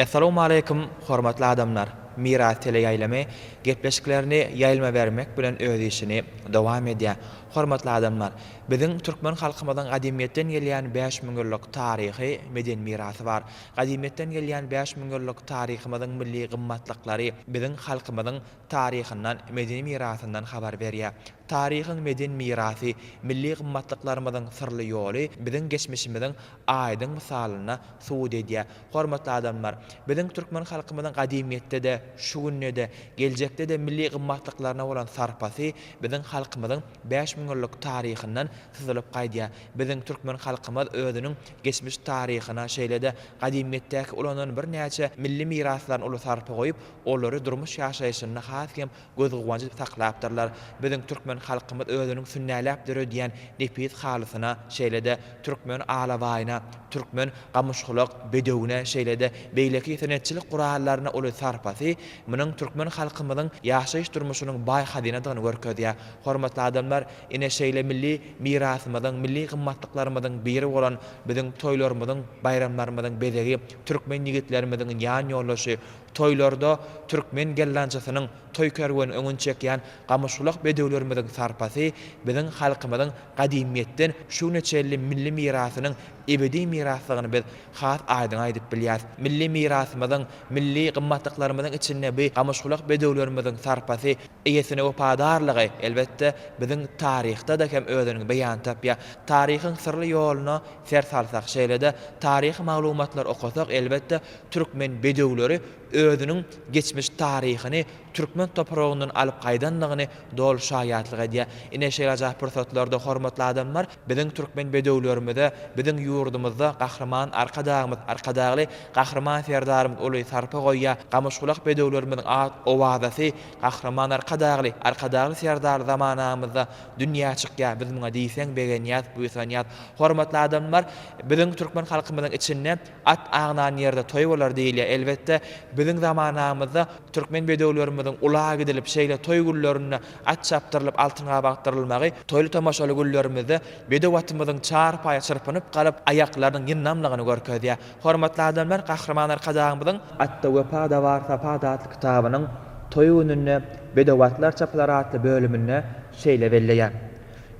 Essalawmaleýkum hormatly adamlar! Miras teleýaýlymy gepleşiklerini ýaýlyma bermek bilen öz işini dowam edýär. Hormatly adamlar! Biziň türkmen halkymyzyň gadymyýetden gelýän bäş müň ýyllyk taryhy, medeni mirasy bar. Gadymyýetden gelýän bäş müň ýyllyk taryhymyzyň milli gymmatlyklary biziň halkymyzyň taryhyndan, medeni mirasyndan habar berýär. Taryhyň medeni mirasy, milli gymmatlyklarymyzyň syrly ýoly biziň geçmişimiziň aýdyň mysalyna subut edýär. Hormatly adamlar! Biziň türkmen halkymyzyň gadymyýetde-de, şu günde-de, geljekde-de milli gymmatlyklaryna bolan sarpasy biziň halkymyzyň bäş müň ýyllyk taryhyndan syzylyp gaýdýar. Biziň türkmen halkymyz özüniň geçmiş taryhyna, şeýle-de gadymyýetdäki ulanan birnäçe milli miraslaryna uly sarpa goýup, Olary durmuş ýaşaýşynda has hem gözguwanç edip saklapdyrlar. Biziň türkmen halkymyz özüniň sünnäläp döredýän nepis halysyna, şeýle-de türkmen alabaýyna, türkmen gamyşgulak bedewine, şeýle-de beýleki senetçilik gurallaryna uly sarpasy munuň türkmen halkymyzyň ýaşaýyş-durmuşynyň baý hazynadygyny görkezýär. Hormatly adamlar, ine, şeýle milli mirasymyzyň, milli gymmatlyklarymyzyň biri bolan biziň toýlarymyzyň, baýramlarymyzyň bezegi türkmen ýigitlerimiziň ýan ýoldaşy, Toýlarda türkmen gelnaçysynyň toý kerweni öňüni çekýän gamyşgulak bedewlerimiziň sarpasy biziň halkymyzyň gadymyýetden şu güne çenli milli mirasynyň ebedi mirasdygyny biz has aýdyň aýdyp bilýäris. Milli mirasymyzyň, milli gymmatlyklarymyzyň içinde bu gamyşgulak bedewlerimiziň sarpasy, eýesine wepadarlygy, elbetde, biziň taryhda-da hem özüniň beýany tapýar. Taryhyň syrly ýoluna ser salsak, şeýle-de taryhy maglumatlary okasak, elbetde, Türkmen bedewleri özüniň geçmiş taryhyny türkmen topragyndan alyp gaýdandygyny doly şaýatlyk edýär. Ine şeýlejaý pursatlarda hormatly adamlar biziň türkmen bedewlerimize biziň ýurdumyzda Gahryman Arkadagymyz Arkadagly Gahryman Serdarymyz uly sarpa goýýar. Gamyşgulak bedewlerimiziň at owazasy Gahryman Arkadagly Arkadagly Serdar zamanamyzda dünýä çykýar biz muňa diýseň begenýäs buýsanýas. Hormatly adamlar biziň türkmen halkymyzyň içinde At agnan ýerde toý bolar diýilýär. Elbetde, biziň zamanamyzda türkmen bedewlerimiziň ula gidilip, şeýle toý günlerinde at çapdyrylyp, altyn gabakdyrylmagy, toýly-tomaşaly günlerimizde bedew atymyzyň çarpaýa çyrpynyp galyp, aýaklarynyň ýyndamlygyny görkezýär. Hormatly adamlar, Gahryman Arkadagymyzyň. Atda wepa-da bar, sapa-da atly kitabynyň Toý gününde bedew atlar çapylar atly bölüminde şeýle belleýär,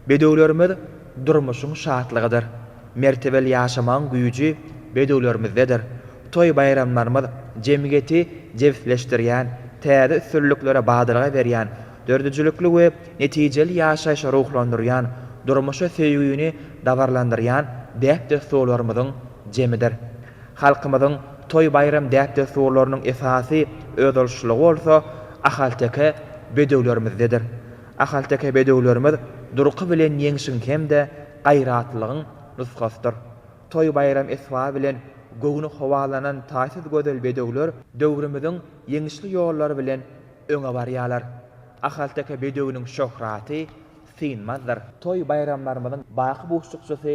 Bedewlerimiz durmuşyň şatlygydyr. Mertebeli ýaşamagyň güýji bedewlerimizdedir. Toý-baýramlarymyz jemgyýeti jebisleşdirýän, täze üstünliklere badalga berýän, döredijilikli we netijeli ýaşaýşa ruhlandyrýan, durmuşa söýgini dabaralandyrýan däp-dessurlarymyzyň jemidir. Halkymyzyň toý-baýram däp-dessurlarynyň esasy özboluşlylygy bolsa ahalteke bedewlerimizdedir. Ahalteke bedewlerimiz durky bilen ýeňşiň hem-de gaýratlylygyň nusgasydyr. Toý-baýram esbaby bilen göwni howalanan taýsyz gözel bedewler döwrümiziň ýeňişli ýollary bilen öňe barýarlar. Ahalteke bedewiniň şöhraty synmazdyr. Toý-baýramlarymyzyň baky buşlukçysy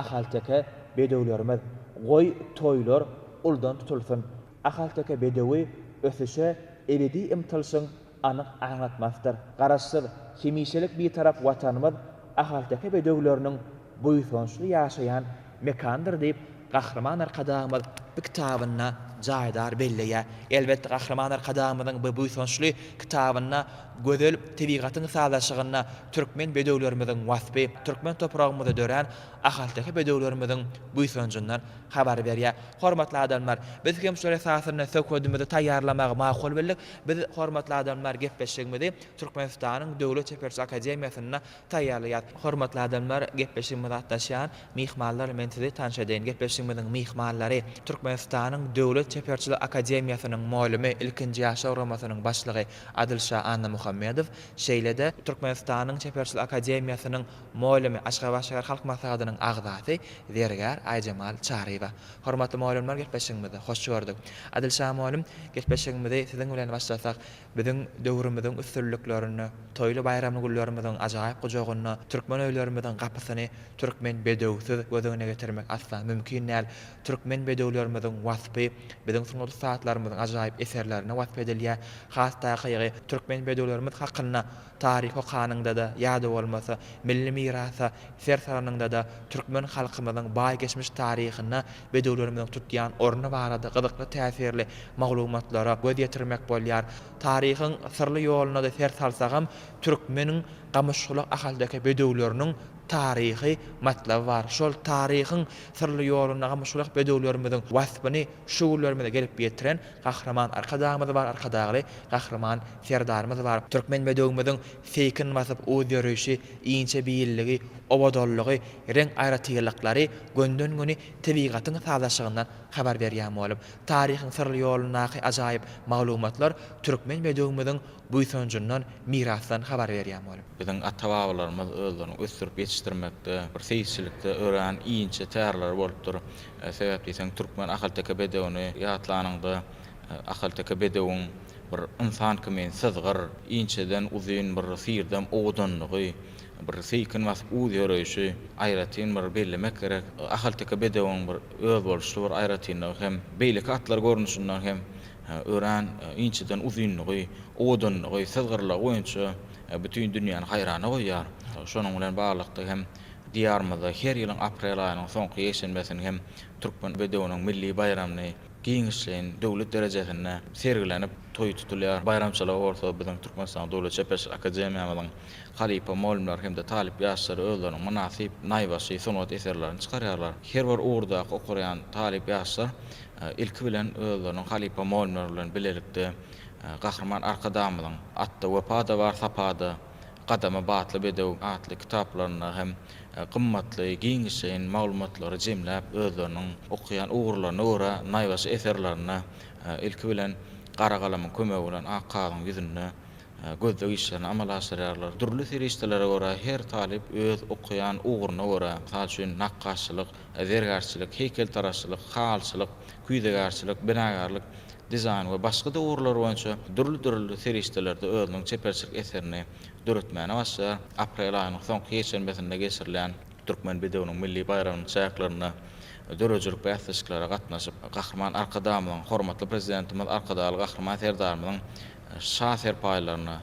ahalteke bedewlerimiz. Goý, toýlar uldan tutulsyn! Ahalteke bedewi ösüşe ebedi ymtylyşyň anyk aňlatmasydyr. Garaşsyz, hemişelik Bitarap Watanymyz ahalteke bedewleriniň buýsançly ýaşaýan mekanydyr diýip, Gahryman Arkadagymyz bu kitabynda jaýdar belleýär. Elbetde, Gahryman Arkadagymyzyň bu buýsançly kitabynda gözel tebigatyň sazlaşygynda türkmen bedewlerimiziň waspy, türkmen topragymyzda dörän ahalteke bedewlerimiziň buýsanjyndan habar berýär. Hormatly adamlar, biz hem şol esasynda söhbedimizi taýýarlamagy makul bildik. Biz, hormatly adamlar, gepleşigimizi Türkmenistanyň Döwlet çeperçilik akademiýasynda taýýarlaýas. Hormatly adamlar, gepleşigimize gatnaşýan myhmanlar, men sizi tanyş edeýin. Gepleşigimiziň myhmanlary, Türkmenistanyň Döwlet çeperçilik akademiýasynyň molümi, ilkinji ýaşlar guramasynyň başlygy Adylşa Annamuhammedow, şeýle-de, Türkmenistanyň Çeperçilik akademiýasynyň molümi, Aşgabat şäher halk maslahatynyň agzasy, zergär Aýjemal Çaryýewa. Hormatly mugallymlar gepleşigimizi hoş gördük. Adyl şa mugallym gepleşigimizi siziň bilen başlasak biziň döwrümiziň üstünliklerini, toýly baýramly günlerimiziň ajaýyp gujagyny, türkmen öýlerimiziň gapysyny türkmen bedewsiz göz öňüne getirmek asla mümkin däl. Türkmen bedewlerimiziň waspy biziň sungat ussatlarymyzyň ajaýyp eserlerinde wasp edilýär. Has takygy türkmen bedewlerimiz hakynda Taryh okanyňda-da ýa-da bolmasa milli mirasa ser salanyňda-da türkmen halkymyzyň baý geçmiş taryhyna bedewlerimiziň tutýan orny barada gyzykly täsirli maglumatlara göz ýetirmek bolýar. Taryhyň syrly ýoluna-da ser salsagam türkmeniň gamyşgulak ahalteke bedewleriniň taryhy matlaby bar. Şol taryhyň syrly ýolunda gamyşgulak bedewlerimiziň waspyny şu günlerimize gelip ýetiren Gahryman Arkadagymyz bar Arkadagly Gahryman Serdarymyz bar Türkmen bedewimiziň seýkin basyp uz ýörüşi inçe beýilligi owadanlygy reň aýratyrlyklary gönden göni tebigatyň sazlaşygyndan habar berýän bolup taryhyň syrly ýolundaky ajaýyp maglumatlar Türkmen bedewimiziň buýsanjyndan, mirasdan habar berýän bolup. Biziň ata-babalarymyz özlerini ösdürip ýetişdirmekde, bir seýisçilikde örän inçe tärler bolupdyr. Sebäp diýseň, türkmen ahalteke bedewini ýatlanyňda, ahalteke bedewiň bir ynsan kimin syzgyr, inçeden uzyn bir syrdam owadanlygy, bir seýkin basyp uz ýöreýşi aýratyn bir bellemek gerek. Ahalteke bedewiň bir özboluşly bir aýratynlygy hem beýleki atlar görnüşinden hem Örän inçeden uzynlygy, owadanlygy, syzgyrlygy boýunça bütin dünýäni haýrana goýýar. Şonuň bilen baglylykda hem Diýarymyzda her ýylyň aprel aýynyň soňky ýekşenbesini hem Türkmen bedewiniň milli baýramyny giňişleýin döwlet derejesinde sergilenip, toýy tutulýar. Baýramçylygy bolsa biziň Türkmenistanyň Döwlet çeperçilik akademiýamyzyň halypa mugallymlary hem-de talyp ýaşlary özleriniň mynasyp naýbaşy sungat eserlerini çykarýarlar. Her bir ugurdaky okurýan talyp ýaşlar Ilki bilen özleriniň halypa Molmer bilen bilelikde Gahryman Arkadagymyzyň Atda wepa-da bar, sapa-da, Gadamy batly bedew atly kitaplarynda hem gymmatly, giňişleýin maglumatlary jemläp, özleriniň okaýan ugurlaryna görä naýbaşy eserlerini ilki bilen gara galamyň kömegi bilen ak kagyzyň ýüzünde gözleg işlerini amala aşyrýarlar. Dürli serişdelere görä, her talyp öz okaýan ugruny görä, mysal üçin, nakgaşçylyk, zergärçilik, heýkeltaraşçylyk, haýalçylyk, küýzegärçilik, binagärlik, dizaýn we başga-da ugurlar boýunça dürli-dürli serişdelerde özüniň çeperçilik eserini döretmäne başlaýar. Aprel aýynyň soňky ýekşenbesinde geçirilýän Türkmen bedewiniň milli baýramynyň çäklerinde döredijilik bäsleşiklere gatnaşyp, Gahryman Arkadagymyzyň, hormatly Prezidentimiz Arkadagly Gahryman Serdarymyzyň şa serpaýlaryna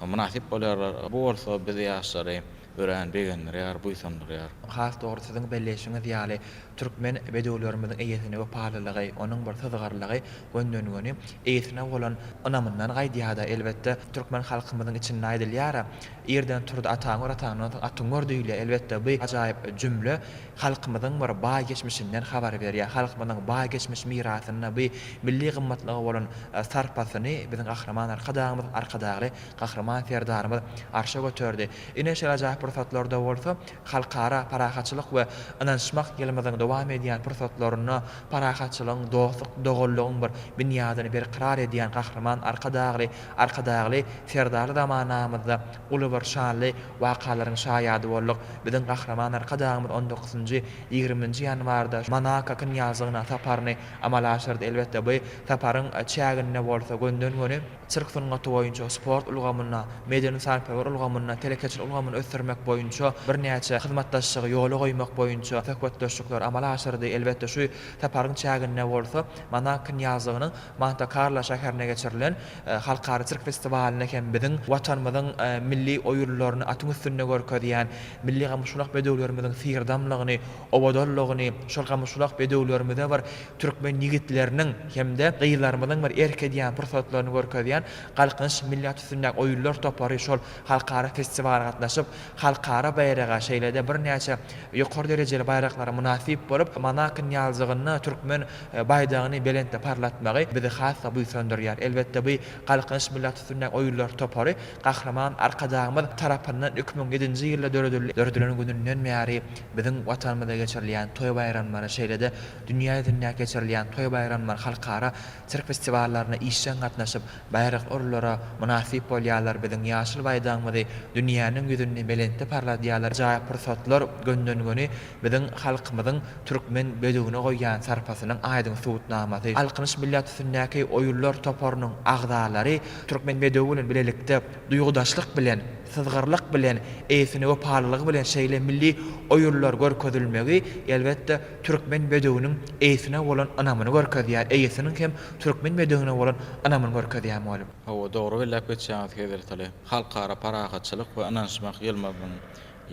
mynasyp bolýarlar. Bu bolsa biz ýaşlary örän begendirýär, buýsandyrýar. Has dogry siziň belleýşiňiz ýaly, türkmen bedewlerimiziň eýesine wepalylygy, onuň bir syzgyrlygy gönden-göni eýesine bolan ynamyndan gaýdýar-da. Elbetde, türkmen halkymyzyň içinde aýdylýar-a, Irden turdy ataň gör, ataňdan soň atyň gör diýilýär. Elbetde, bu ajaýyp jümle halkymyzyň bir baý geçmişinden habar berýär. Halkymyzyň baý geçmiş mirasyna, bu milli gymmatlyga bolan sarpasyny biziň Gahryman Arkadagymyz, Arkadagly Gahryman Serdarymyz arşa göterdi. Ine, şeýleräk pursatlarda bolsa Halkara parahatçylyk we ynanyşmak ýylymyzyň dowam edýän pursatlarynda parahatçylygyň, dostluk, doganlygyň bir binýadyny berkarar edýän Gahryman Arkadagly, Arkadagly Serdarly zamanamyzda Uly bir şanly wakalaryň şaýady bolduk. Biziň Gahryman Arkadagymyz on dokuzynjy, ýigriminji ýanwarda Monako knýazlygyna saparyny amala aşyrdy. Elbetde, bu saparyň çäginde bolsa gönden-göni sirk sungaty boýunça, sport ulgamynda, medeni-sarpagir ulgamynda, telekeçilik ulgamyny ösdürmek boýunça birnäçe hyzmatdaşlygy ýola goýmak boýunça söhbetdeşlikleri amala aşyrdy. Elbetde, şu saparyň çäginde bolsa Monako knýazlygynyň Monte-Karlo şäherinde geçirilen Halkara sirk festiwalynda hem biziň Watanymyzyň milli oýunlaryny atyň üstünde görkezýän milli gamyşgulak bedewlerimiziň syrdamlygyny, owadanlygyny, şol gamyşgulak bedewlerimize bir türkmen ýigitleriniň hem-de gyzlarymyzyň bir erk edýän pursatlaryny görkezýän Galkynyş milli at üstündäki oýunlar topary şol halkara festiwala gatnaşyp, halkara baýraga, şeýle-de birnäçe ýokary derejeli baýraklara mynasyp bolup, Monakonyň ýalyjygynda türkmen baýdagyny belentde parlatmagy bizi has-da buýsandyrýar. Elbetde, bu Galkynyş millat üstündäki oýunlar topary Gahryman Arkadagymyz tarapyndan iki müň ýedinji ýylda döredildi. Döredilen gününden bäri biziň Watanymyzda geçirilýän toý-baýramlary, şeýle-de dünýä ýüzündäki geçirilýän toý-baýramlar, halkara sirk festiwallaryna işjeň gatnaşyp, baýrakly orunlara mynasyp bolýarlar, biziň ýaşyl baýdagymyzy dünýäniň ýüzünde belentde parladýarlar. Jaý pursatlar gönden-göni Biziň halkymyzyň türkmen bedewine goýýan sarpasynyň aýdyň subutnamasy, Galkynyş millat üstündäki oýunlar toparynyň agzalary türkmen bedewi bilen bilelikde duýgudaşlyk bilen, syzgyrlyk bilen, eýesine wepalylygy bilen şeýle milli oýunlar görkezilmegi, elbetde, türkmen bedewiniň eýesine bolan ynamyny görkezýär, eýesiniň hem türkmen bedewine bolan ynamyny görkezýär, mugallym. Hawa, dogry belläp geçýäňiz Hezretali. Halkara parahatçylyk we ynanyşmak ýylymyzyň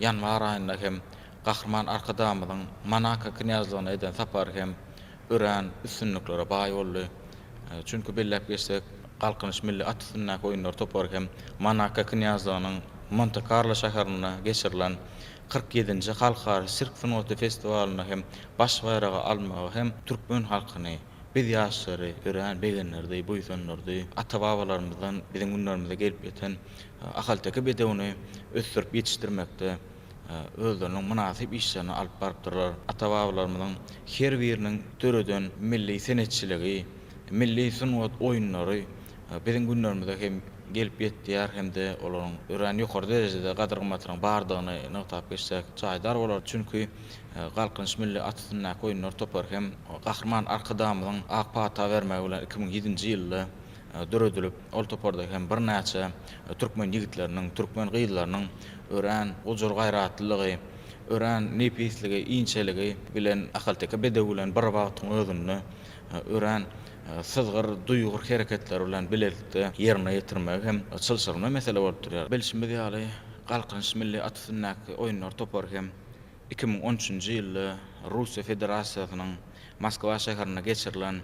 ýanwar aýynda hem Gahryman Arkadagymyzyň Monako knýazlygyna eden sapary hem örän üstünliklere baý boldy. Çünki belläp geçsek, Galkynyş milli at üstündäki oýunlar topary hem Monako knýazlygynyň Monte-Karlo şäherinde geçirilen kyrk ýedinji Halkara sirk sungaty festiwalynda hem baş baýragy almagy hem türkmen halkyny, biz ýaşlary örän begendirdi, buýsandyrdy. Ata-babalarymyzdan biziň günlerimize gelip ýeten ahalteke bedewini ösdürip ýetişdirmekde, özleriniň mynasyp işlerini alyp barypdyrlar. Ata-babalarymyzyň her biriniň döreden milli senetçiligi, milli sungat oýunlary biziň günlerimize hem gelip ýetýär hem-de olaryň örän ýokary derejede gadyr-gymmatynyň bardygyny nygtap geçsek jaýdar bolar. Çünki Galkynyş milli at üstündäki oýunlar topary hem Gahryman Arkadagymyzyň ak pata bermegi bilen iki müň ýedinji ýylda döredilip, ol toparda hem birnäçe türkmen ýigitleriniň, türkmen gyzlarynyň örän gujur-gaýratlylygy, örän nepisligi, inçeligi bilen ahalteke bedewi bilen bir wagtyň özünde örän syzgyr, duýgur hereketleri bilen bilelikde ýerine ýetirmegi hem çylşyrymly mesele bolup durýar. Bilşimiz ýaly, Galkynyş milli at üstündäki oýunlar topary hem iki müň on üçünji ýylda Russiýa Federasiýasynyň Moskwa şäherinde geçirilen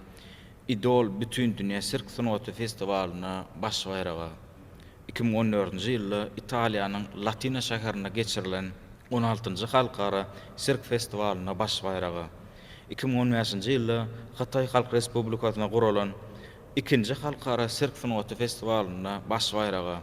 Idol Bütindünýä sirk sungaty festiwalynda baş baýraga, iki müň on dördünji ýylda Italiýanyň Latina şäherinde geçirilen on altynjy Halkara sirk festiwalynda baş baýraga, iki müň on bäşinji ýylda Hytaý Halk Respublikasynda guralan ikinji Halkara sirk sungaty festiwalynda baş baýraga,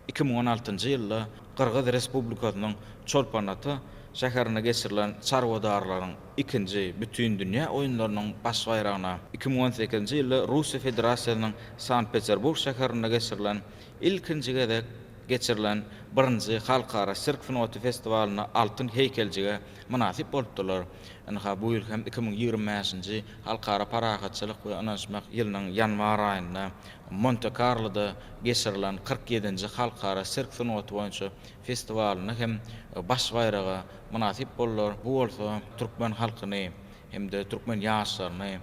Iki müň on altynjy ýylda Gyrgyz Respublikasynyň Çolpon-Ata şäherinde geçirilen çarwadarlaryň ikinji Bütindünýä oýunlarynyň baş baýragyna, iki müň on sekizinji ýylda Russiýa Federasiýasynyň Sankt-Peterburg şäherinde geçirilen ilkinji gezek geçirilen birinji Halkara sirk sungaty festiwalyna altyn heýkeljige mynasyp bolupdyrlar. Ynha, bu ýyl hem iki müň ýigrimi bäşinji Halkara parahatçylyk we ynanyşmak ýylynyň ýanwar aýynda Monte-Karloda geçirilen kyrk ýedinji Halkara sirk sungaty boýunça festiwalynda hem baş baýraga mynasyp boldular, bu bolsa türkmen halkyny hem-de türkmen ýaşlaryny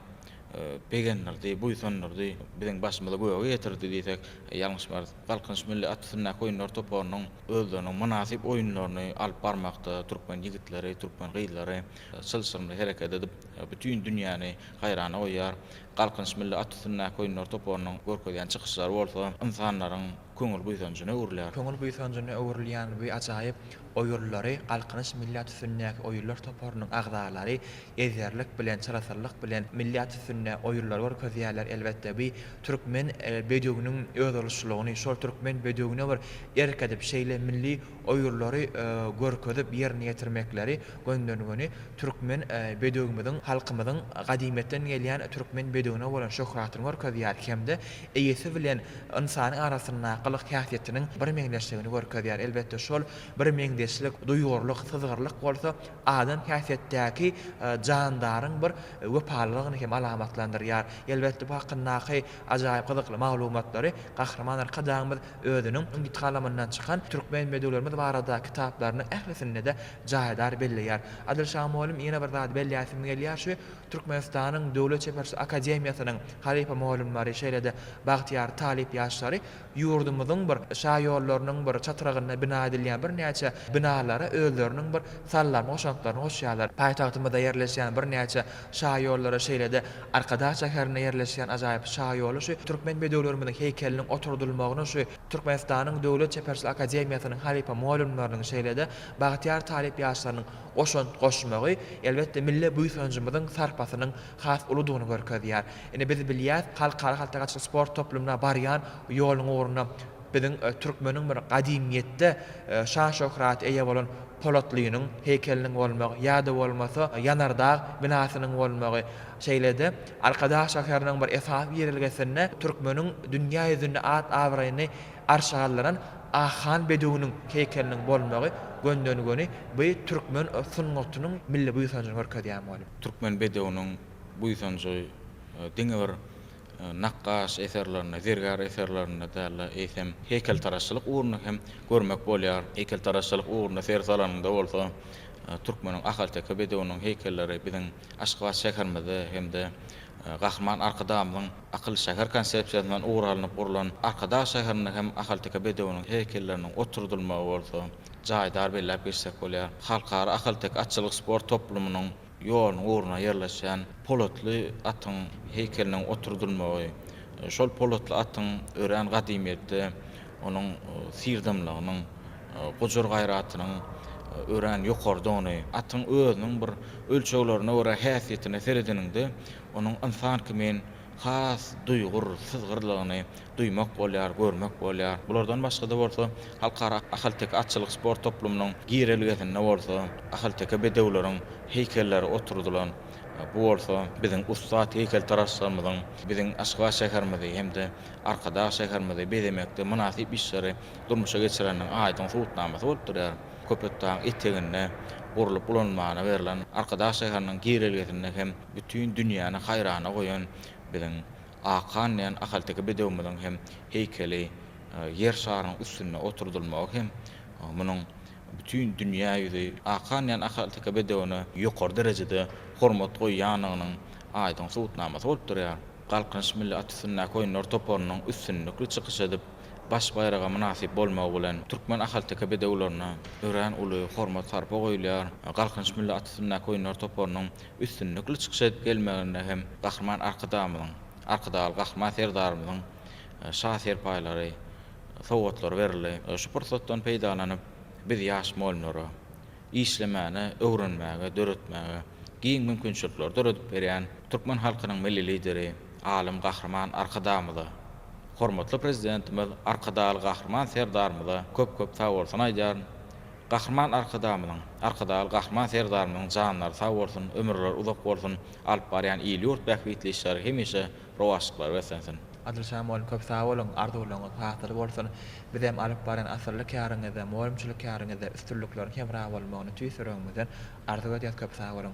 begendirdi, buýsandyrdy, biziň başymyzy göge ýetirdi diýsek, ýalňyşmarys. Galkynyş milli at üstündäki oýunlar toparynyň özleriniň mynasyp oýunlaryny alyp barmakda türkmen ýigitleri, türkmen gyzlary çylşyrymly hereket edip, bütin dünýäni haýrana goýýar. Galkynyş milli at üstündäki oýunlar toparynyň görkezýän çykyşlary bolsa ynsanlaryň köňül buýsanjyna öwrülýär. Köňül buýsanjyna öwrülýän bu ajaýyp oýunlary Galkynyş milli at üstündäki oýunlar toparynyň agzalary ezberlik bilen, çyrasyllyk bilen milli at üstünde oýunlary görkezýärler. Elbetde, bu türkmen bedewiniň özboluşlylygyny, şol türkmen bedewine bir erk edip, şeýle milli oýurlary görkezip ýerine ýetirmekleri göndermegini türkmen bedewimiziň halkymyzyň gadymyýetden gelýän türkmen bedewine bolan şöhratyny görkezýär hem-de eýesi bilen ynsanyň arasyndaky gylyk-häsiýetiniň birmeňzeşligini görkezýär. Elbetde, şol birmeňzeşlik, duýgurlyk, syzgyrlyk bolsa adam häsiýetdäki jandaryň bir wepalylygyny hem alamatlandyrýar. Elbetde, bu hakyndaky ajaýyp gyzykly maglumatlary Gahryman Arkadagymyz Özüniň Umyt kalamyndan çykan Türkmen bedewlerimiz barada kitaplarynyň ählisinde-de jaýdar belleýär. Adylşa mugallym ýene bir zady belläýsim gelýär, şu Türkmenistanyň Döwlet çeperçilik akademiýasynyň halypa mugallymlary, şeýle-de bagtyýar talyp ýaşlary ýurdumyzyň bir şaýollarynyň bir çatrygynda bina edilýän birnäçe binalara özleriniň bir sallama goşantlaryny goşýarlar. Paýtagtymyzda ýerleşýän birnäçe Şaýollary şeýle-de Arkadag şäherinde ýerleşýän ajaýyp şaýoly şu türkmen bedewlerimiziň heýkeliniň oturdylmagyny şu Türkmenistanyň Döwlet çeperçilik akademiýasynyň halypa mugallymlarynyň şeýle-de bagtyýar talyp ýaşlarynyň goşant goşmagy elbetde milli buýsanjymyzyň sarpasynyň has uludygyny görkezýär. Ine biz bilýäs halkara haltagaçyk sport toplumyna barýan ýoluň ugrunda Biziň türkmeniň bir gadymyýetde şan-şöhraty eýe bolan Polatlynyň heýkeliniň bolmagy ýa-da bolmasa Ýanardag binasynyň bolmagy, şeýle-de Arkadag şäheriniň bir esasy ýerelgesinde türkmeniň dünýä ýüzünde at-abraýyny arşa galdyran Akhan bedewiniň heýkeliniň bolmagy gönden-göni bu türkmen sungatynyň milli buýsanjyny görkezýän bolup. Türkmen bedewiniň buýsanjy diňe bir nakgaş eserlerinde, zergär eserlerinde däl-de, eýsem, heýkeltaraşçylyk ugrunda hem görmek bolýar. Heýkeltaraşçylyk ugrunda ser salanyňda bolsa, türkmeniň ahalteke bedewiniň heýkelleri biziň Aşgabat şäherimizde hem-de Gahryman Arkadagymyzyň Akylly şäher konsepsiýasyndan ugur alnyp gurlan Arkadag şäherinde hem ahalteke bedewiniň heýkelleriniň oturdylmagy bolsa, jaýdar belläp geçsek bolýar. Halkara ahalteke atçylyk sport toplumynyň Ýoluň ugruna ýerleşen polatly atyň heýkeliniň oturdylmagy, şol polatly atyň örän gadymyýetde onuň syrdamlygynyň, gujur-gaýratynyň örän ýokarydygyny, atyň özüniň bir ölçeglerine görä häsiýetine seredeniňde, onuň ynsan kimin has duýgur, syzgyrlygyny duýmak bolýar, görmek bolýar. Bulardan başga-da bolsa, Halkara ahalteke atçylyk sport toplumynyň girelgesinde bolsa, ahalteke bedewleriň heýkelleri oturdylan. Bu bolsa biziň ussat heýkeltaraşlarymyzyň biziň Aşgabat şäherimizi hem-de Arkadag şäherimizi bezemekde mynasyp işleri durmuşa geçireniniň aýdyň subutnamasy bolup durýar. Köpetdagyň eteginde gurlup ulanylmagyna berlen Arkadag şäheriniň girelgesinde hem bütin dünýäni haýrana goýan biziň Akan diýen ahalteke bedewimiziň hem heýkeli Ýer şarynyň üstünde oturdylmagy hem munuň bütin dünýä ýüzi Akan diýen ahalteke bedewine ýokary derejede hormat goýýandygynyň aýdyň subutnamasy bolup durýar. Galkynyş milli at üstündäki oýunlar toparynyň üstünlikli çykyş edip, baş baýraga mynasyp bolmagy bilen, türkmen ahalteke bedewlerine örän uly hormat-sarpa goýulýar. Galkynyş milli at üstündäki oýunlar toparynyň üstünlikli çykyş edip gelmeginde hem Gahryman Arkadagymyzyň, Arkadagly Gahryman Serdarymyzyň şa serpaýlary, sowgatlary berildi. Şu pursatdan peýdalanyp, biz ýaş mugallymlara işlemäne, öwrenmäge, döretmäge giň mümkinçilikleri döredip berýän türkmen halkynyň Milli Lideri, alym Gahryman Arkadagymyza, hormatly Prezidentimiz Arkadagly Gahryman Serdarymyza köp-köp sagbolsun aýdýaryn. Gahryman Arkadagymyzyň, Arkadagly Gahryman Serdarymyzyň janlary sag bolsun, ömürleri uzak bolsun, alyp barýan il-ýurt bähbitli işleri hemişe rowaçlyklar beslensin! Adyljan mugallym köp sag boluň, arzuwlaryňyz hasyl bolsun. Bizem alyp barýan asylly käriňizde, mugallymçylyk käriňizde üstünlikleriň hemra bolmagyny tüýs ýüregimizden arzuw edýäs, köp sag boluň!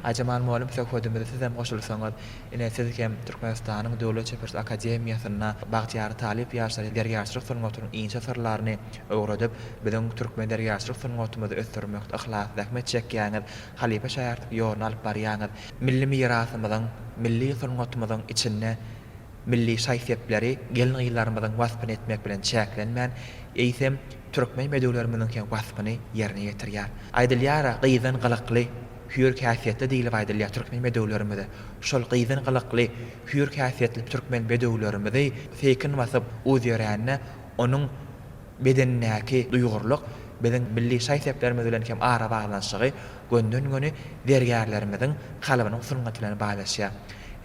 Aýjemal mugallym söhbedimize sizem goşulsaňyz, ine siz hem Türkmenistanyň Döwlet çeperçilik akademiýasynda bagtyýar talyp ýaşlara zergärçilik sungatynyň inçe syrlaryny öwredip, biziň türkmen zergärçilik sungatymyzy ösdürmekde yhlasly zähmet çekýäňiz, halypa şaýartlyk ýoluny alyp barýaňyz, milli mirasymyzyň, milli sungatymyzyň içinde Milli şaý-sepleri gelin-gyzlarymyzyň waspyny etmek bilen çäklenmän, eýsem, türkmen bedewlerimiziň hem waspyny ýerine ýetirýär. Aýdylýar-a, gyzdan gylykly, hüýr häsiýetli diýlip aýdylýar türkmen bedewlerimize. Şol gyzdan gylykly, hüýr häsiýetli türkmen bedewlerimizi seýkin wasyp uz ýörände, onuň. Bedendäki duýgurlyk biziň milli şaý-seplerimiz bilen hem arabaglanyşygy gönden-göni zergärlerimiziň kalbynyň sungaty bilen baýlaşýar.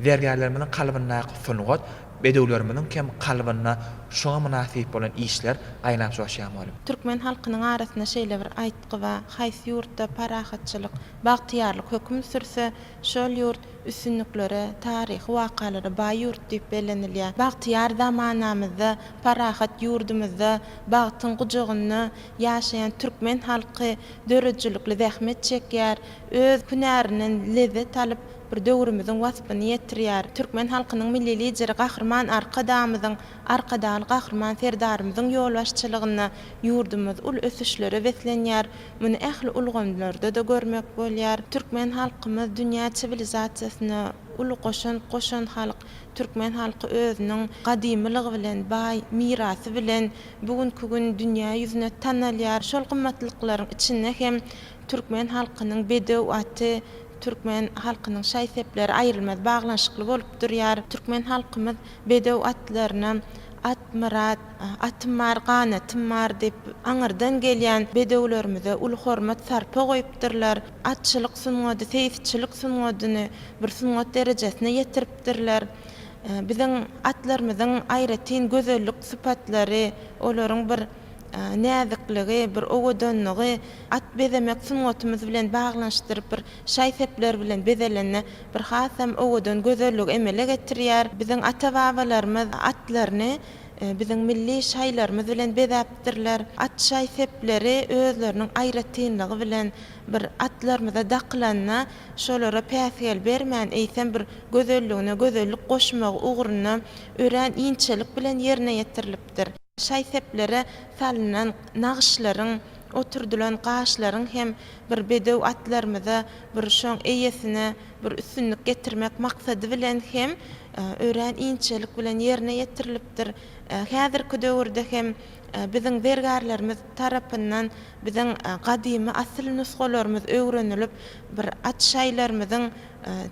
Zergärlerimiziň kalbyndaky sungat bedewlerimiziň hem kalbynda şuňa mynasyp bolan işler gaýnap joşýan bolup. Türkmen halkynyň arasynda şeýle bir aýtgy bar, Haýsy ýurtda parahatçylyk, bagtyýarlyk höküm sürse, şol ýurt üstünliklere, taryhy wakalara baý ýurt diýip bellenilýär. Bagtyýar zamanamyzda, parahat ýurdumyzda, bagtyň gujagynda ýaşaýan türkmen halky döredijilikli zähmet çekýär, öz hünärinden lezzet alyp, bir döwrümiziň waspyny ýetirýär. Türkmen halkynyň Milli Lideri Gahryman Arkadagymyzyň Arkadagly Gahryman Serdarymyzyň ýolbaşçylygynda ýurdumyz uly ösüşlere beslenýär. Muny ähli ulgamlarda-da görmek bolýar. Türkmen halkymyz dünýä siwilizasiýasyna uly goşant goşan halk. Türkmen halky özüniň gadymylygy bilen, baý mirasy bilen bu günki gün dünýä ýüzüne tanalýar. Şol gymmatlyklaryň içinde hem türkmen halkynyň bedew aty, türkmen halkynyň şaý-sepleri aýrylmaz baglanyşykly bolup durýar. Türkmen halkymyz Bedew atlaryna Atmyrat, Atym bar, ganatym bar diýip, aňyrdan gelýän bedewlerimize uly hormat-sarpa goýupdyrlar. Atçylyk sungady, seýisçilik sungadyny bir sungat derejesine ýetiripdirler. Biziň atlarymyzyň aýratyn gözellik sypatlary, olaryň bir. näzikligi, bir owadanlygy, at bezemek sungatymyz bilen baglanyşdyryp bir şaý-sepler bilen bezelende bir hasam owadan gözelligi emele getirýär. Biziň ata-babalarymyz atlaryny biziň milli şaýlarymyz bilen bezäpdirler. At şaý-sepleri özleriniň aýratynlygy bilen bir atlarymyza dakylanda şolara päsgel bermän, eýsem bir gözelligine gözellik goşmagy ugrunda örän inçelik bilen ýerine ýetirilipdir. Şaý-seplere salynan nagyşlaryň, oturdylan gaşlaryň hem bir bedew atlarymyza, bir şoň eýesine bir üstünlik getirmek maksady bilen hem örän inçelik bilen ýerine ýetirilipdir. Häzirki döwürde hem biziň zergärlerimiz tarapyndan biziň gadymy asyl nusgalarymyz öwrenilip, bir at-şaýlarymyzyň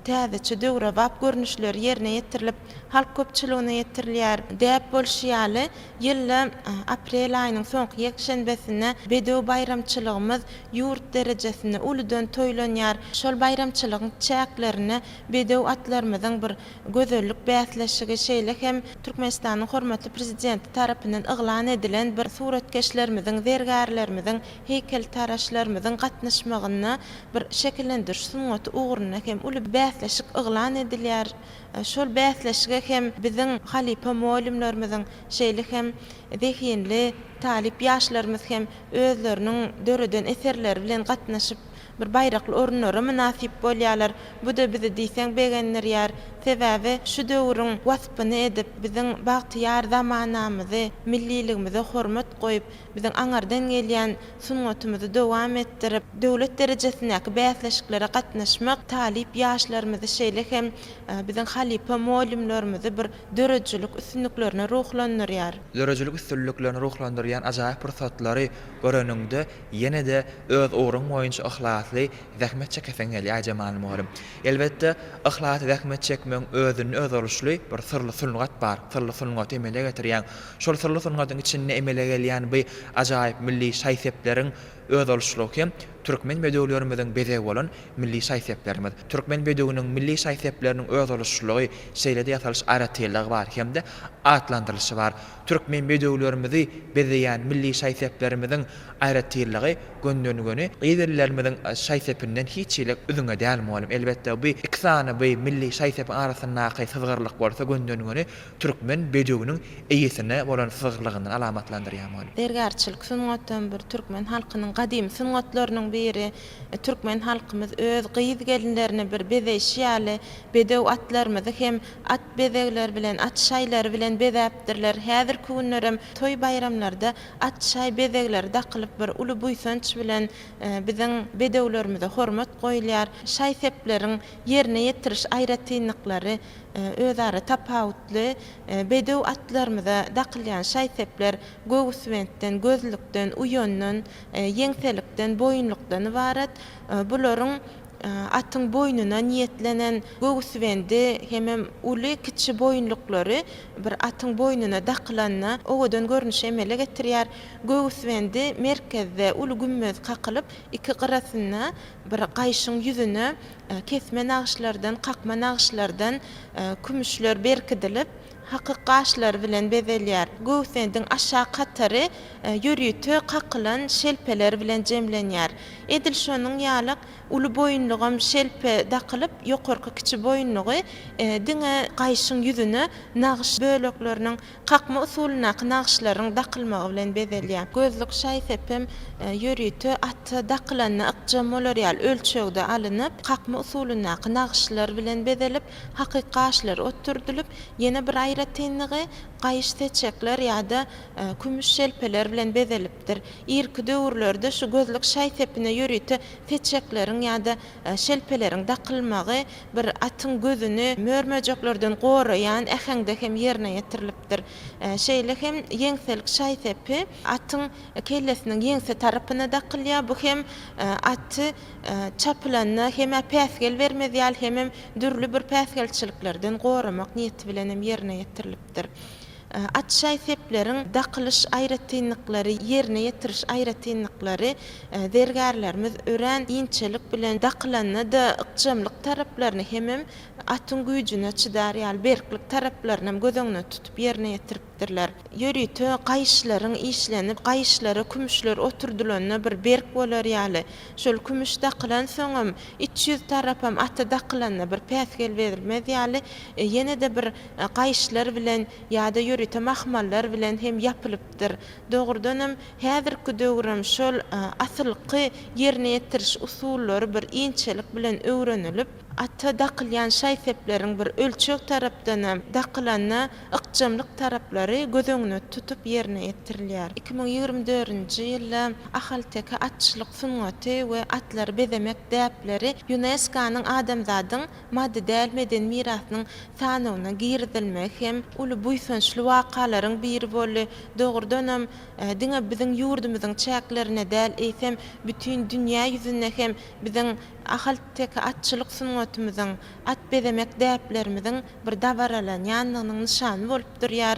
täzeçe döwrebap görnüşleri ýerine ýetirilip, halk köpçüligine ýetirilýär. Däp bolşy ýaly, ýylda aprel aýynyň soňky ýekşenbesinde bedew baýramçylygymyz ýurt derejesinde uludan toýlanýar. Şol baýramçylygyň çäklerinde bedew atlarymyzyň bir gözellik bäsleşigi, şeýle hem Türkmenistanyň hormatly Prezidenti tarapyndan yglan edilen bir suratkeşlerimiziň, zergärlerimiziň heýkeltaraşlarymyzyň gatnaşmagynda bir şekillendiriş sungaty ugrunda hem uly bäsleşik yglan edilýär. Şol bäsleşige hem biziň halypa mugallymlarymyzyň, şeýle hem zehinli talyp ýaşlarymyz hem özleriniň döreden eserleri bilen gatnaşyp, bir baýrakly orunlara mynasyp bolýarlar. Bu-da bizi diýseň begendirýär. Sebäbi şu döwrüň waspyny edip, biziň bagtyýar zamanamyzy, milliligimize hormat goýup, Biziň aňyrdan gelýän sungatymyzy dowam etdirip, döwlet derejesindäki bäsleşiklere gatnaşmak talyp ýaşlarymyzy, şeýle hem biziň halypa mugallymlarymyzy bir döredijilik üstünliklerine ruhlandyrýar. Döredijilik üstünliklerini ruhlandyrýan ajaýyp pursatlary göreniňde, ýene-de öz ugruň boýunça yhlasly zähmet çekeseň gelýär, Jemal mugallym. Elbetde, yhlasly zähmet çekmegiň özünde özboluşly bir syrly sungat bar. Syrly sungaty emele getirýäň. Şol syrly sungatyň içinde emele gelýän bu ajaýyp milli şaý-sepleriň özboluşlygy hem türkmen bedewlerimiziň bezegi bolan milli şaý-seplerimiz. Türkmen bedewiniň milli şaý-sepleriniň özboluşlylygy, şeýle-de ýasalyş aýratynlygy bar hem-de atlandyrylyşy bar. Türkmen bedewlerimizi bezeýän milli şaý-seplerimiziň aýratynlygy göndönigöni gyz illerimiziň şaý-sepinden hiç hili üzňe däl mugalym. Elbetde, bu iki sany bu milli şaý-sepiň arasyndaky syzgyrlyk bolsa göndönigöni türkmen bedewiniň eýesine bolan syzyklygyny alamatlandyrýarmykan? Zergärçilik sungatam bir türkmen halkynyň gadymy sungatlarynyň biri. Türkmen halkymyz öz gyz-gelinlerini bir bezeýşi ýaly, bedew atlarymyzy hem at bezegleri bilen, at şaýlary bilen bezäpdirler. Häzirki günlerem toý-baýramlarda at şaý bezegleri dakylyp, bir uly buýsanç bilen biziň bedewlerimize hormat goýulýar. Şaý-sepleriň ýerine ýetiriş aýratynlyklary. Özara tapawutly bedew atlarymyza dakylýan şaý-sepler göwüsbentden, gözlükden, uýandan, ýeňselikden, boýunlykdan ybarat. Bularyň atyň boýnuna niýetlenen göwüsbendi hemem uly, kiçi boýunlyklary bir atyň boýnuna dakylanda owadan görnüşi emele getirýär. Göwüsbendi merkezde uly gümmez kakylyp, iki gyrasynda Bir gaýyşyň ýüzüne kesme nagyşlardan, kakma nagyşlardan kümüşler berkidilip, hakyk gaşlary bilen bezelýär. Göwsediň aşak hatary ýörite kakylan şelpeler bilen jemlenýär. Edil şonuň ýaly uly boýunlugam şelpe dakylyp, ýokarky kiçi boýunlugy diňe gaýyşyň ýüzüne nagyş bölekleriniň Kakma usulyndaky nagyşlaryň dakylmagy bilen bezelýär. Gözlük şaý-sep hem ýörite ata dakylanda ykjam bolar ýaly ölçegde alynyp, kakma usulyndaky nagyşlar bilen bezelip, hakyky gaşlar oturdylyp, ýene bir aýratynlygy, gaýyş seçekler ýa-da kümüş şelpeler bilen bezelipdir. Irki döwürlerde şu gözlük şaý-sepine ýörite seçekleriň ýa-da Şelpeleriň dakylmagy bir atyň gözüni mör-möjeklerden goraýan äheňde hem ýerine ýetirilipdir. Şeýle hem ýeňselik şaý-sepi atyň kellesiniň ýeňse tarapyna dakylýar, bu hem aty çapylanda hem-ä päsgel bermez ýaly hemem dürli bir päsgelçiliklerden goramak niýeti bilen hem ýerine ýetirilipdir. berlipdir. Atşaý sepleriň dakylyş aýratynlyklary, ýerine ýetiriş aýratynlyklary zergärlerimiz örän inçelik bilen dakylanda-da ykjamlyk taraplaryny hemem atyň güýjüne çydar ýaly berklik taraplaryny hem göz öňüne tutup ýerine ýetiripdirler. Ýörite gaýyşlaryň işlenip, gaýyşlara kümüşler oturdylanda bir berk bolar ýaly, şol kümüş dakylansoň hem iç ýüz tarapam ata dakylanda bir päsgel berilmez ýaly ýene-de bir gaýyşlar bilen ýa-da ýörite mahmallar bilen hem ýapylypdyr. Dogrudanam, häzirki döwrem şol asylky ýerine ýetiriş usullary bir inçelik bilen öwrenilip, ata dakylýan şaý-sepleriň bir ölçeg tarapdanam dakylanda ykjamlyk taraplary göz öňüne tutup ýerine ýetirilýär. Iki müň ýigrimi dördünji ýylda ahalteke atçylyk sungaty we atlary bezemek däpleri ÝUNESKO-nyň Adamzadyň maddy däl medeni mirasynyň sanawyna girizilmegi hem uly buýsançly wakalaryň biri boldy. Dogrudanam, diňe biziň ýurdumyzyň çäklerinde däl, eýsem, bütin dünýä ýüzünde hem biziň ahalteke atçylyk sungatymyzyň, at bezemek däplerimiziň bir dabaralanýandygynyň nyşany bolup durýar.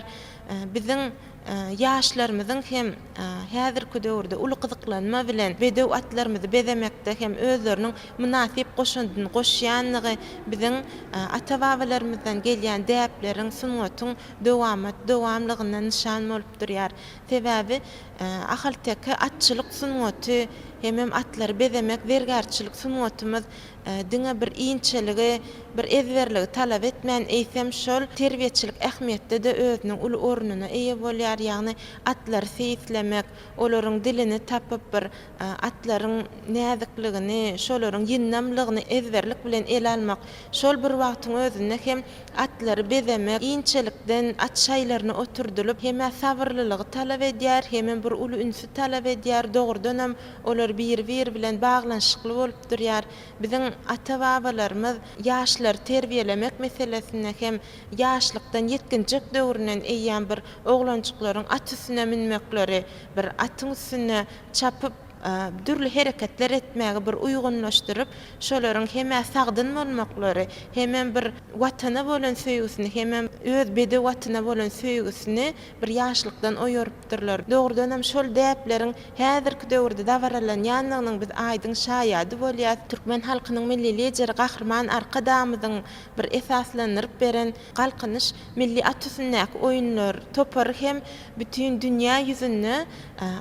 Biziň ýaşlarymyzyň hem. Häzirki döwürde uly gyzyklanma bilen bedew atlarymyzy bezemekde hem özleriniň mynasyp goşandyny goşýandygy biziň ata-babalarymyzdan gelýän däpleriň, sungatyň dowamat dowamlygyna nyşan bolup durýar. Sebäbi ahalteke atçylyk sungaty hemem atlary bezemek zergärçilik sungatymyz diňe bir inçeligi, bir ezberligi talap etmän, eýsem, şol terbiýeçilik ähmiýetde-de özüniň uly ornuna eýe bolýar, ýagny Atlary seýislemek, olaryň dilini tapyp bir atlaryň näzikligini, şolaryň ýyndamlygyny ezberlik bilen ele almak, şol bir wagtyň özünde hem atlary bezemek inçelikden at şaýlaryna oturdylyp hem-ä sabyrlylygy talap edýär, hemem bir uly ünsi talap edýär, dogrudanam olar biri-biri bilen baglanyşykly bolup durýar. Biziň ata-babalarymyz ýaşlary terbiýelemek meselesinde hem Ýaşlykdan, ýetginjek döwründen eýýäm bir oglanjyklaryň at üstüne münmekleri, bir atyň üstünde çapyp, dürli hereketler etmäge bir uýgunlaşdyryp, şolaryň hem-ä sagdyn bolmaklary, hemem bir Watana bolan söýgüsini, hemem öz bedew atyna bolan söýgüsini bir ýaşlykdan oýarypdyrlar. Dogrudanam, şol däpleriň häzirki döwürde dabaralanýandygynyň biz aýdyň şaýady bolýarys. Türkmen halkynyň Milli Lideri Gahryman Arkadagymyzyň Bir esaslandyryp beren Galkynyş milli at üstündäki oýunlar topary hem bütin dünýä ýüzünde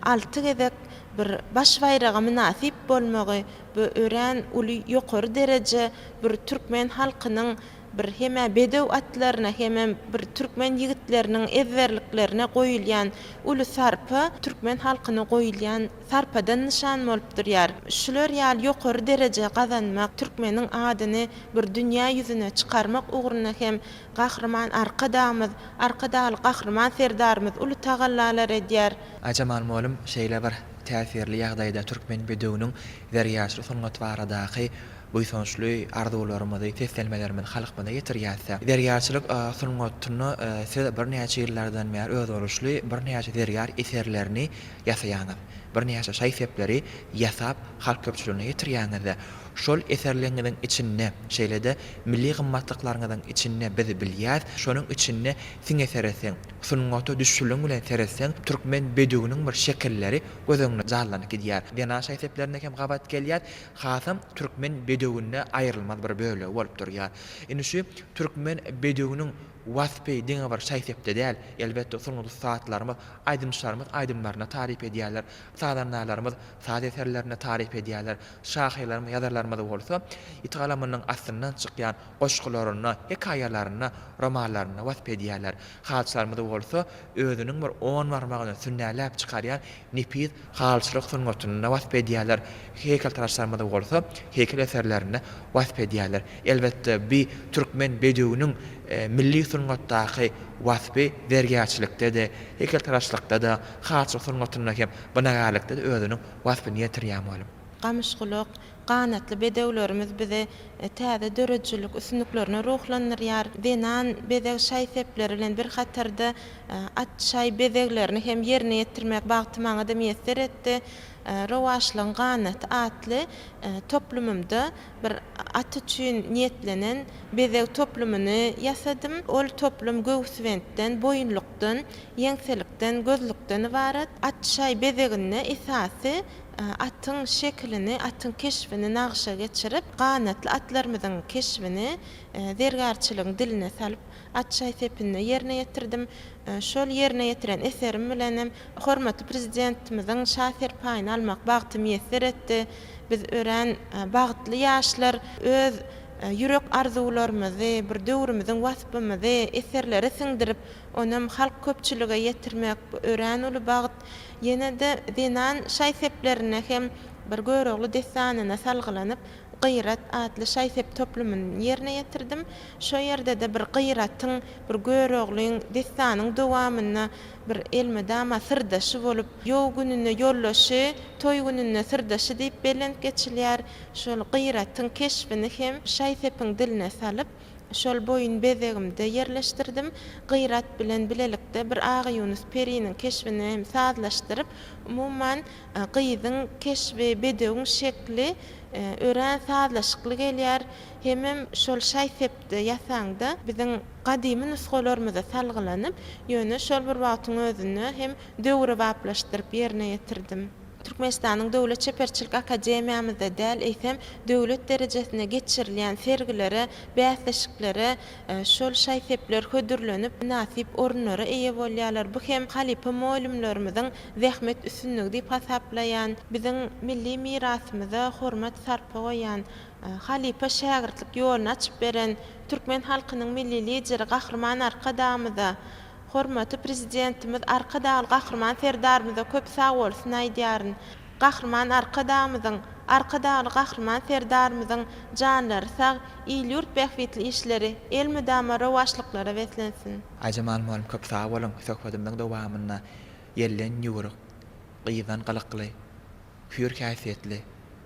alty gezek bir baş baýraga mynasyp bolmagy bu örän uly ýokary dereje bir türkmen halkynyň bir hemä bedew atlaryna hemem bir türkmen ýigitleriniň ezberliklerine goýulýan uly sarpa türkmen halkyna goýulýan sarpadan nyşan bolup durýar. Şular ýaly ýokary dereje gazanmak, türkmeniň adyny bir dünýä ýüzüne çykarmak ugrunda hem Gahryman Arkadagymyz, Arkadagly Gahryman Serdarymyz uly tagallalar edýär. Aýjemal mugallym şeýle bir täsirli ýagdaýda türkmen bedewiniň zergärçilik sungaty baradaky buýsançly arzuwlarymyzy, seslenmelerimizi halkymyza ýetirýärse, zergärçilik sungatyny siz birnäçe ýyllardan bäri özboluşly birnäçe zergär eserlerini ýasaýaňyz, birnäçe şaý-sepleri ýasap halk köpçüligine ýetirýäňiz-de, şol eserleriňiziň içinde, şeýle-de milli gymmatlyklaryňyzyň içinde biz bilýäs, şonuň içinde siňe seretseň, sungata düşüliň bilen seretseň, türkmen bedüwiniň bir şekilleri göz öňüňde jallanyp gidýär. Zenan şaý-seplerine hem gabat gelýär, hasam türkmen bedüwinde aýrylmaz bir bölegi bolup durýar. Indi şu türkmen bedüwiniň. Waspy diňe bir şaý-sepde däl, elbetde, sungat ussatlarymyz, aýdymçylarymyz aýdymlarynda taryp edýärler, sazandalarymyz saz eserlerinde taryp edýärler, şahyrlarymyz, ýazarlarymyz bolsa ýiti galamynyň astyndan çykýan goşgularynda, hekaýalarynda, romanlarynda wasp edýärler. Halçylarymyz bolsa özüniň bir on barmagyny sünnäläp çykarýan nepis halyçylyk sungatynda wasp edýärler, heýkeltaraşlarymyzy bolsa heýkel eserlerinde wasp edýärler. Elbetde, bi türkmen bedewiniň milli sungatdaky waspy zergärçilikde-de, heýkeltaraşlykda-da, halyçylyk sungatynda hem, binagärlikde-de özüniň waspyny ýetirýär, mugalym. Gamyşgulak, Ganatly bedewlerimiz bizi täze döredijilik üstünliklerine ruhlandyrýar. Zenan bezeg şaý-sepleri bilen bir hatarda at şaý bezeglerini hem ýerine ýetirmek bagty maňa-da miýesser etdi. Rowaçlygyň ganaty atly toplumymda bir at üçin niýetlenen bezeg toplumyny ýasadym. Ol toplum göwüsbentden, boýunlykdan, ýeňselikden, gözlükden ybarat. At şaý bezeginde esasy Atyň şekilini, atyň keşbini nagşa geçirip, ganatly atlarymyzyň keşbini zergärçiligiň diline salyp, at şaý sepinde ýerine ýetirdim. Şol ýerine ýetiren eserim bilen hem hormatly Prezidentimiziň şa serpaýyny almak bagty miýesser etdi. Biz örän bagtly ýaşlar öz ýürek arzuwlarymyzy, bir döwrümiziň waspymyzy eserlere siňdirip, onuňam halk köpçülige ýetirmek, bu örän uly bagt. Ýene-de zenan şaý-seplerine hem bir Görogly dessanyna salgylanyp, Gyrat atly şaý-sep toplumyny ýerine ýetirdim. Şo ýerde-de bir Gyratyň, bir Göroglyň dessanyň dowamyna bir elmydama syrdaşy bolup, ýow gününde ýoldaşy, toý gününde syrdaşy diýip belent geçilýär. Şol Gyratyň keşbini hem şaý-sepiň diline salyp, Şol boýun bezegimde ýerleşdirdim. Gyrat bilen bilelikde bir Agaýunus periniň keşbini hem sazlaşdyryp, umuman, gyzyň keşbi, bedewiň şekli örän sazlaşykly gelýär. Hemem şol şaý-sepdi ýasaňda biziň gadymy nusgalarymyza salgylanyp, ýöne şol bir wagtyň özünde hem döwrebaplaşdyryp ýerine ýetirdim. Türkmenistanyň Döwlet çeperçilik akademiýamyzda däl, eýsem, döwlet derejesinde geçirilýän sergilere, bäsleşiklere şol şaý-sepler hödürlenip, mynasyp orunlara eýe bolýarlar. Bu hem halypa mugallymlarymyzyň zähmet üstünligi diýip hasaplaýan, biziň milli mirasymyza hormat-sarpa goýýan, halypa-şägirtlik ýoluny açyp beren türkmen halkynyň Milli Lideri Gahryman Arkadagymyza Hormatly Prezidentimiz Arkadagly Gahryman Serdarymyza köp sagbolsun aýdýaryn. Gahryman Arkadagymyzyň, Arkadagly Gahryman Serdarymyzyň janlary sag, il-ýurt bähbitli işleri elmydama rowaçlyklara beslensin! Aýjemal mugallym köp sag boluň, söhbedimiziň dowamynda ýelden ýüwrük, gyzdan gylykly, Hüýr häsiýetli,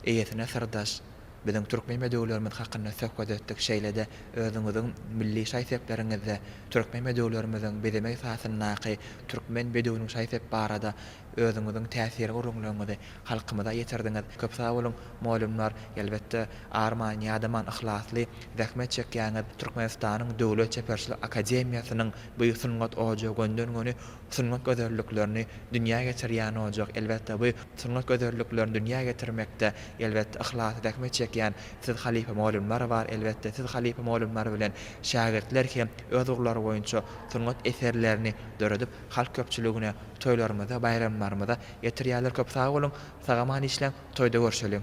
eýesine syrdaş, biziň türkmen bedewlerimiz hakynda söhbet etdik, şeýle-de özüňiziň milli şaý-sepleriňizde türkmen bedewlerimiziň bezeme esasyndaky Türkmen bedewiniň şaý-sep barada özüňiziň täsirli gürrüňleriňizi halkymyza ýetirdiňiz. Köp sag boluň, mugallymlar, elbetde, arman, ýadaman, yhlasly zähmet çekýäňiz, Türkmenistanyň Döwlet çeperçilik akademiýasynyň bu sungat ojagy gönden-göni Sungat gözelliklerini dünýä getirýän ojak elbetde bu sungat gözelliklerini dünýä getirmekde elbetde yhlasly zähmet çekýän siz halypa mugallymlar bar elbetde siz halypa mugallymlar bilen şägirtler hem öz ugurlary boýunça sungat eserlerini döredip halk köpçüligine toýlarymyza baýramlarymyza ýetirýärler köp sag boluň sagaman işläň toýda görşeliň.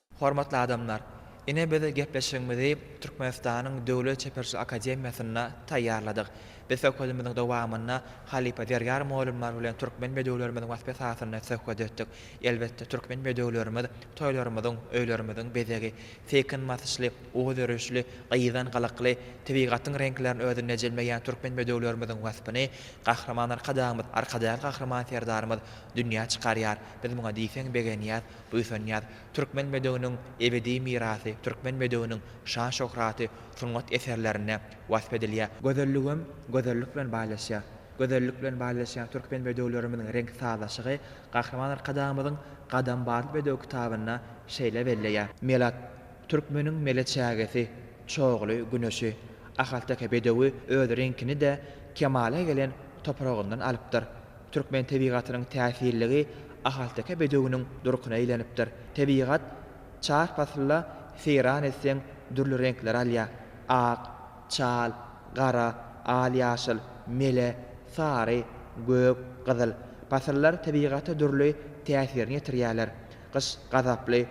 Hormatly adamlar! Ine biz gepleşigimizi Türkmenistanyň Döwlet çeperçilik akademiýasynda taýýarladyk. Biz söhbedimiziň dowamynda halypa Zergär mugallymlar bilen türkmen bedewlerimiziň waspy esasynda söhbet etdik. Elbetde, türkmen bedewlerimiz toýlarymyzyň, öýlerimiziň bezegi. Seýkin basyşly, ugur örüşli, gyzan gylykly, tebigatyň reňklerini özünde jemleýän türkmen bedewlerimiziň waspyny Gahryman Arkadagymyz, Arkadagly Gahryman Serdarymyz dünýä çykarýar. Biz muňa diýseň begenýäs. Buýsanýas, türkmen bedewiniň ebedi mirasy, türkmen bedewiniň şan-şöhraty sungat eserlerinde wasp edilýär. Gözelligem gözellik bilen baýlaşýar. Gözellik bilen baýlaşýan türkmen bedewlerimiziň reňk sazlaşygy Gahryman Arkadagymyzyň Gadam batly bedew kitabynda şeýle belleýär. Melat, türkmeniň mele çägesi, çogly, güneşi. Ahalteke bedewi öz reňkini-de kemala gelen topragyndan alypdyr. Türkmen tebigatynyň täsirligi ahalteke bedewiniň durkuna eýlenipdir. Tebigat çar pasylda seýran etseň dürli reňkleri alýar. Ak, çal, gara, al-ýaşyl, mele, sary, gök, gyzyl. Pasyllar tebigata dürli täsirini ýetirýärler. Gyş gazaply,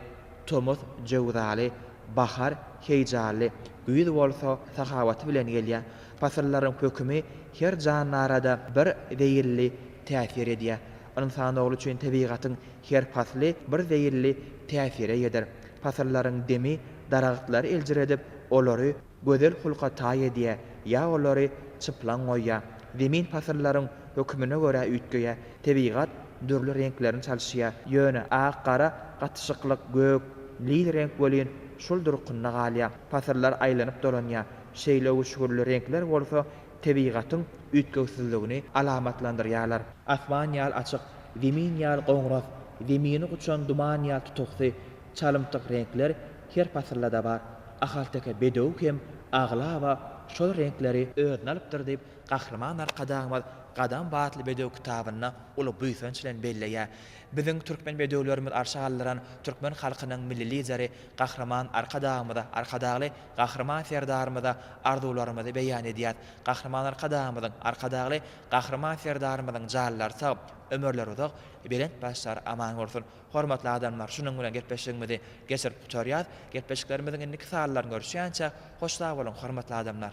tomus jöwzaly, bahar heýjanly, güýz bolsa sahawaty bilen gelýär. Pasyllaryň hökümi her jandarada bir zeýilli täsir edýär. Ynsan ogly üçin tebigatyň her pasly bir zeýilli täsire eýedir. Pasyllaryň demi daragtlary eljiredip, olary gözel hulka taý edýär ýa olary çyplaň goýýar. Zemin pasyllaryň hökümine görä üýtgeýär. Tebigat dürli reňklerini çalyşýar, ýöne ak-gara gatyşyklyk, gök, lil reňk welin şol durkunda galýar. Pasyllar aýlanyp dolanýar. Şeýle öwüşginli reňkler bolsa tebigatyň üýtgewsizligini alamatlandyrýarlar. Asman ýaly açyk, zemin ýaly goňras, zemini guçan duman ýaly tutuksy, çalymtyk reňkler her pasyldada bar. Ahalteke bedewi hem aglaba şol reňkleri. Özüne alypdyr diýip, Gahryman Arkadagymyz Gadam batly bedew kitabynda uly buýsanç bilen belleýär. Biziň türkmen bedewlerimiz arşa galdyran türkmen halkynyň Milli Lideri Gahryman Arkadagymyza Arkadagly Gahryman Serdarymyza arzuwlarymyzy beýan edýäs. Gahryman Arkadagymyzyň, Arkadagly Gahryman Serdarymyzyň janlary sag, ömürleri uzak, belent başlary aman bolsun! Hormatly adamlar, şunuň bilen gepleşigimizi geçirip gutarýas. Gepleşiklerimiziň indiki sanlaryny görüşýänçä, hoş sag boluň, hormatly adamlar!